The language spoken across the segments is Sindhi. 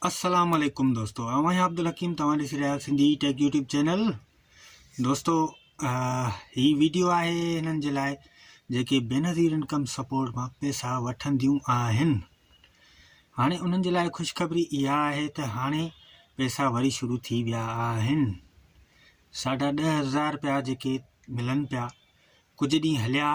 السلام عليڪم دوستو اوهان يا عبدالحڪيم توهان ڏسي رهيا سنڌي ٽيڪ يوٽيوب چينل دوستو هي ويڊيو آهي هنن جي لاء جيڪي بينظير انڪم سپورٽ مان پيسا وٺنديون آهن هاڻي انهن جي لاء خوشخبري اها آهي ته هاڻي پيسا وري شروع ٿي ويا آهن ساڍا ڏهه هزار رپيا جيڪي ملن پيا ڪجهه ڏينهن هليا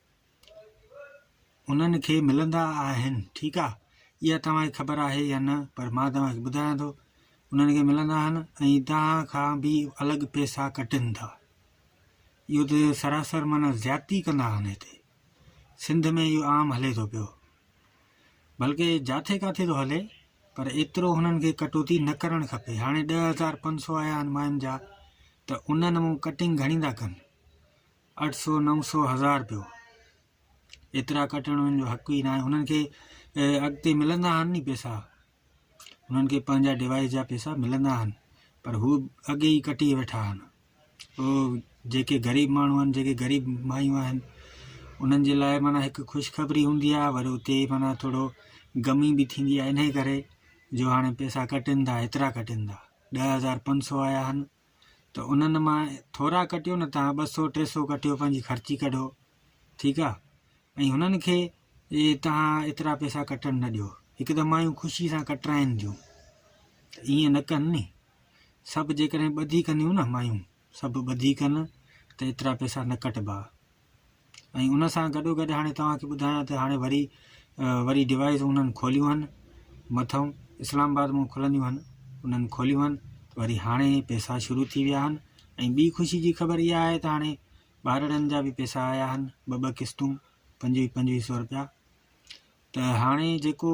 انهن کي ملندا آهن ٺيڪ آ اها توهان کي خبر آهي يا نه پر مان توهان کي ٻڌايان ٿو انهن کي ملندا آهن ۽ توهان کان به الڳ پئسا ڪٽن ٿا اهو ته سراسر معنی زيادتي ڪندا آهن هتي سنڌ ۾ اهو عام هلي ٿو پيو بلڪه جاٿي ڪاٿي ٿو هلي پر ايترو هنن کي ڪٽوتي نه ڪرڻ کپي هاڻي ڏهه هزار پنج سو آيا آهن ماين جا ته انهن مون ڪٽنگ گهڻي ٿا ڪن اٺ سؤ نو سؤ هزار رپيو ايترا ڪٽڻ هن جو حق ئي ناهي هنن کي اڳتي ملندا آهن ن پيسا هنن کي پنهنجا ڊوائس جا پيسا ملندا آهن پر هو اڳي ئي ڪٽي ويٺا آهن او جيڪي غريب ماڻهو آهن جيڪي غريب مايون آهن انهن جي لاء مانا هڪ خوشخبري هوندي آهي وري اتي مانا ٿورو غمي به ٿيندي آهي انهي ڪري جو هاڻي پيسا ڪٽن ٿا ايترا ڪٽن ٿا ڏهه هزار پنج سؤ آيا آهن ته انهن مان ٿورا ڪٽيو نه تان ٻه سؤ ٽي سؤ ڪٽيو پنهنجي خرچي ڪڍو ٺيڪ آ ۽ هنن کي تهان ايترا پئسا ڪٽڻ نه ڏيو هڪ ته مايون خوشي سان ڪٽرائن ٿيون ته ائين نه ڪن ني سڀ جيڪڏهن ٻڌي ڪنديون نه مايون سڀ ٻڌي ڪن ته ايترا پئسا نه ڪٽبا ۽ ان سان گڏوگڏ هاڻي توهان کي ٻڌايان ته هاڻي وري وري ڊوائس انهن کوليون آهن مٿئون اسلام آباد مون کلنديون آهن انهن کوليون آهن وري هاڻي پيسا شروع ٿي ويا آهن ۽ ٻي خوشي جي خبر اها آهي ته هاڻي ٻارڙن جا به پيسا آيا آهن ٻه ٻه قسطون پنجويهه پنجويهه سؤ روپيا ته هاڻي جيڪو